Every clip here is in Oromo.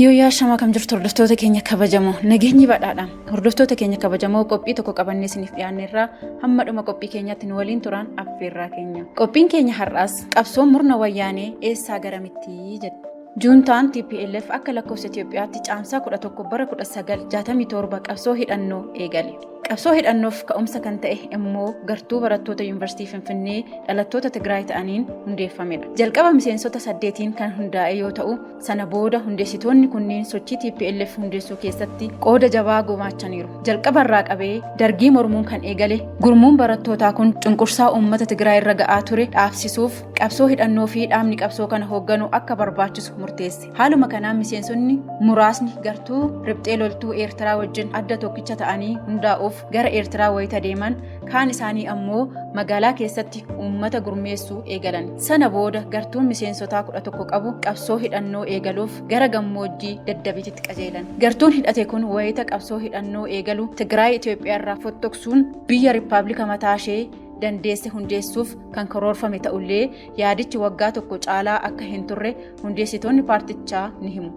Yooyyaa shamaa kam jirtu hordoftoota keenya kabajamoo nageenyi badhaadha hordoftoota keenya kabajamoo qophii tokko qabannee isiniif dhiyaanneerraa hamma dhuma qophii keenyaatti nu waliin turaan affeerraa keenya qophiin keenya har'aas qabsoon murna wayyaanee eessaa garamittii jedha. Juuntaan TPLF akka lakkoofsa Itoophiyaatti caamsaa 11 bara 1967 qabsoo hidhannoo eegale. Qabsoo hidhannoof ka'umsa kan ta'e immoo gartuu barattoota Yuunivarsiitii Finfinnee dhalattoota Tigraay ta'aniin hundeeffamedha. Jalqaba miseensota saddeetiin kan hundaa'e yoo ta'u, sana booda hundeessitoonni kunniin sochii TPLF hundeessuu keessatti qooda jabaa gumaachaniiru. Jalqaba irraa qabee dargii mormuun kan eegale gurmuun barattootaa kun cunqursaa uummata Tigraay irra ga'aa ture dhaabsisuuf qabsoo hidhannoo fi dhaabni qabsoo kana hoogganu akka barbaachisu murteesse. Haaluma kanaan miseensonni muraasni gartuu riphxee loltuu Eertiraa wajjin adda tokkicha ta'anii hundaa'uuf gara Eertiraa wayita deeman kaan isaanii ammoo magaalaa keessatti uummata gurmeessuu eegalan. Sana booda gartuun miseensotaa kudha tokko qabu qabsoo hidhannoo eegaluuf gara gammoojjii Daddabiititti qajeelan. Gartuun hidhate kun wayita qabsoo hidhannoo eegalu Tigraay Itoophiyaarraa fottoqsuun biyya Rippaablika mataashee dandeesse hundeessuuf kan karoorfame ta'ullee Yaadichi waggaa tokko caalaa akka hin turre hundeessitoonni paartichaa ni himu.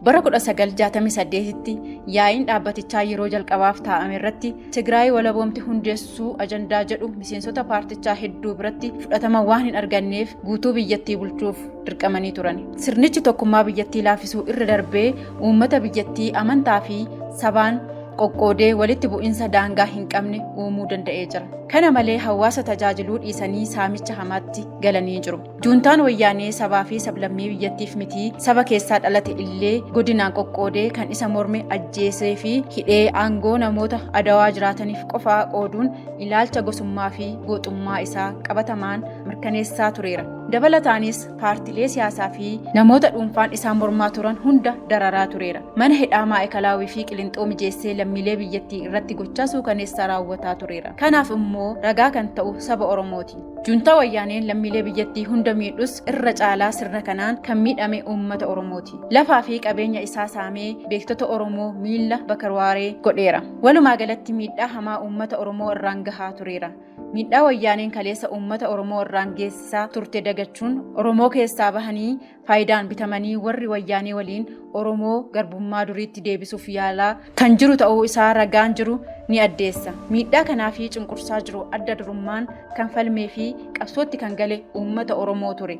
Bara 1968tti yaa'iin dhaabbatichaa yeroo jalqabaaf taa'ame irratti Tigraay walaboomti hundeessuu ajandaa jedhu miseensota paartichaa hedduu biratti fudhatama waan hin arganneef guutuu biyyattii bulchuuf dirqamanii turan. Sirnichi tokkummaa biyyattii laafisuu irra darbee uummata biyyattii amantaa fi sabaan qoqqoodee walitti bu'insa daangaa hin qabne uumuu danda'ee jira. Kana malee hawaasa tajaajiluu dhiisanii saamicha hamaatti galanii jiru. Juuntaan wayyaanee sabaa fi sablammii biyyattiif mitii saba keessaa dhalate illee godinaan qoqqoodee kan isa morme ajjeesee fi hidhee aangoo namoota adawaa jiraataniif qofaa qooduun ilaalcha gosummaa fi gooxummaa isaa qabatamaan mirkaneessaa tureera. Dabalataanis paartilee siyaasaa fi namoota dhuunfaan isaan mormaa turan hunda dararaa tureera. Mana hidhaa Maa'ikalaawii fi Qilinxoo mijeessee lammiilee biyyattii irratti gochaa suukaneessaa raawwataa tureera. Kanaaf immoo ragaa kan ta'u saba Oromooti. Juntaa wayyaaneen lammiilee biyyattii hunda miidhus irra caalaa sirna kanaan kan miidhame uummata Oromooti. Lafaa fi qabeenya isaa saamee beektota Oromoo miila bakarwaaree godheera. Walumaa galatti miidhaa hamaa uummata Oromoo irraan gahaa tureera. Miidhaa wayyaaneen kaleessa uummata Oromoo irraan geessisaa turte dagachuun Oromoo keessaa bahanii faayidaan bitamanii warri wayyaanee waliin Oromoo garbummaa duriitti deebisuuf yaalaa kan jiru ta'uu isaa ragaan jiru ni addeessa. Miidhaa kanaa fi cunqursaa jiru adda durummaan kan falmee fi qabsootti kan gale uummata Oromoo ture.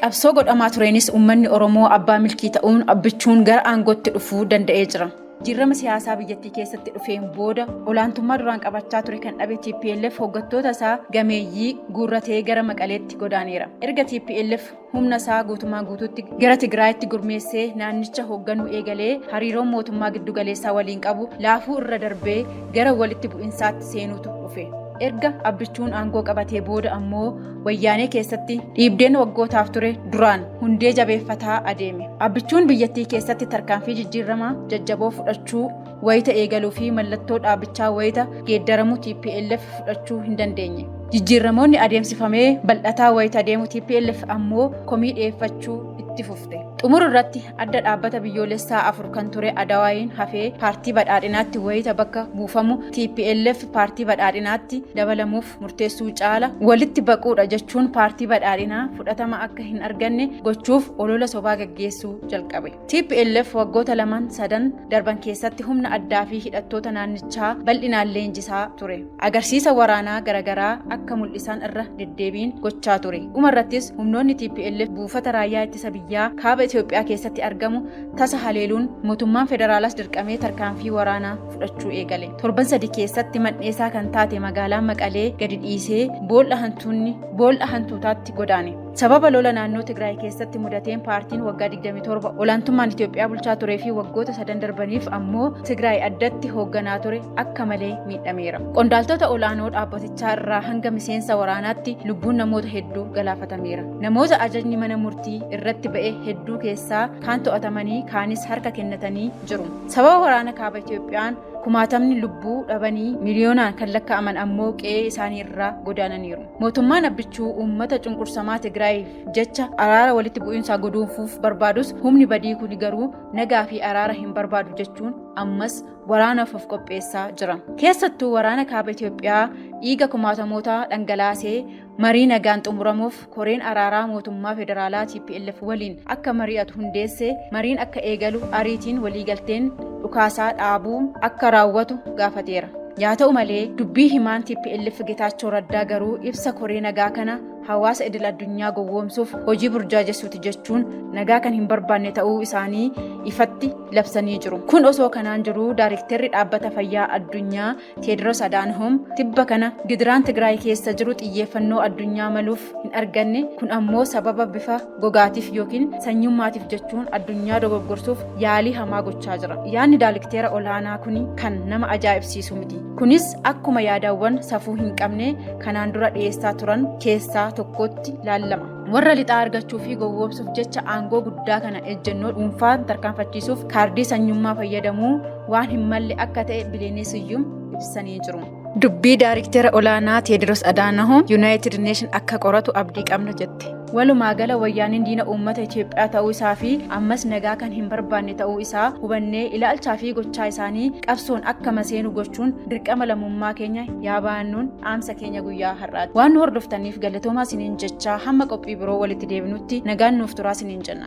Qabsoo godhamaa tureenis uummanni Oromoo abbaa milkii ta'uun abbichuun gara aangootti dhufuu danda'ee jira. Jijjiirama siyaasaa biyyattii keessatti dhufeen booda olaantummaa duraan qabachaa ture kan dhabe TPLF hoggattoota isaa gameeyyii guurratee gara Maqaleetti godaaneera. Erga TPLF humna isaa guutumaan guutuutti gara Tigraayitti gurmeessee naannicha hoogganuu eegalee hariiroon mootummaa giddugaleessaa waliin qabu laafuu irra darbee gara walitti bu'insaatti seenuutu dhufe. Erga Abbichuun aangoo qabatee booda ammoo Wayyaanee keessatti dhiibdeen waggootaaf ture duraan hundee jabeeffataa adeeme. Abbichuun biyyattii keessatti tarkaanfii jijjiiramaa jajjaboo fudhachuu wayita eegaluu fi mallattoo dhaabichaa wayita geeddaramu TPLF fudhachuu hin dandeenye. Jijjiiramoonni adeemsifamee bal'ataa wayita adeemu TPLF ammoo komii dhiyeeffachuu itti fufte. Xumura irratti adda dhaabbata biyyoolessaa afur kan ture Adawaayiin hafee paartii badhaadhinaatti wayita bakka buufamu TPLF paartii badhaadhinaatti dabalamuuf murteessuu caala walitti baquudha jechuun paartii badhaadhinaa fudhatama akka hin arganne gochuuf olola sobaa gaggeessuu jalqabe. TPLF waggoota lamaan sadan darban keessatti humna addaa fi hidhattoota naannichaa bal'inaan leenjisaa ture. Agarsiisa waraanaa garaagaraa akka mul'isan irra deddeebiin gochaa ture. Dhuma irrattis humnoonni TPLF buufata raayyaa ittisa biyyaa kaaba Itoophiyaa keessatti argamu tasa haleeluun mootummaan federaalaas dirqamee tarkaanfii waraanaa fudhachuu eegale. Torban sadi keessatti man'eesaa kan taate magaalaa Maqalee gadi dhiisee boolla hantuunni boolla hantuutaatti godaane. Sababa lola naannoo Tigraay keessatti mudateen paartiin waggaa 27 olaantummaan Itoophiyaa bulchaa turee fi waggoota sadan darbaniif ammoo Tigraay addatti hoogganaa ture akka malee miidhameera. Qondaaltota olaanoo dhaabbatichaa irraa hanga miseensa waraanaatti lubbuun namoota hedduu galaafatameera. Namoota ajajni mana murtii irratti ba'e hedduu keessaa kaan to'atamanii kaanis harka kennatanii jiru. Sababa waraana kaaba Itoophiyaan kumaatamni lubbuu dhabanii miliyoonaan kan lakkaa'aman ammoo qe'ee isaanii irraa godaananiiru. Mootummaan Abbichuu uummata cunqursamaa Tigraayiif jecha araara walitti bu'iinsaa godoonfuuf barbaadus humni badii kuni garuu nagaa fi araara hin barbaadu jechuun ammas waraanaaf of qopheessaa jira. Keessattuu waraana kaaba Itoophiyaa dhiiga kumaatamootaa dhangalaasee Marii nagaan xumuramuuf koreen araaraa mootummaa federaalaa TPLF waliin akka mari'atu hundeesse mariin akka eegalu ariitiin waliigalteen dhukaasaa dhaabuu akka raawwatu gaafateera. Yaa ta'u malee dubbii himaan TPLF Getaachoo Raddaa garuu ibsa koree nagaa kana hawaasa idil addunyaa gowwoomsuuf hojii burjaajessuuti jechuun nagaa kan hin barbaanne ta'uu isaanii ifatti labsanii jiru. Kun osoo kanaan jiru daarikteerri dhaabbata fayyaa addunyaa Teediroos Adaanhoom tibba kana gidiraan Tigraay keessa jiru xiyyeeffannoo addunyaa maluuf hin arganne kun ammoo sababa bifa gogaatiif yookiin sanyummaatiif jechuun addunyaa dogoggorsuuf yaalii hamaa gochaa jira. Yaadni daalikteera olaanaa kun kan nama ajaa'ibsiisu miti. Kunis akkuma yaadawwan safuu hin qabne kanaan dura dhiyeessaa turan keessaa tokkotti laallama. Warra lixaa argachuu fi gowwoomsuuf jecha aangoo guddaa kana ejjennoo dhuunfaan tarkaanfachiisuuf kaardii sanyummaa fayyadamuu waan hin malle akka ta'e Biliinii Siyyum ibsanii jiru. Dubbii Daariktera Olaanaa Teediroos Adaanahoom Yuunaayitid Neeshin akka qoratu abdii qabna jette. Walumaa gala wayyaaniin diina uummata Itoophiyaa ta'uu isaa fi ammas nagaa kan hin barbaanne ta'uu isaa hubannee ilaalchaa fi gochaa isaanii qabsoon akka maseenu gochuun dirqama lammummaa keenya yaa baannuun dhaamsa keenya guyyaa har'aati. Waan nu hordoftaniif galatoomaa isiniin jechaa hamma qophii biroo walitti deebinutti nagaan nuuf turaa isiniin jenna.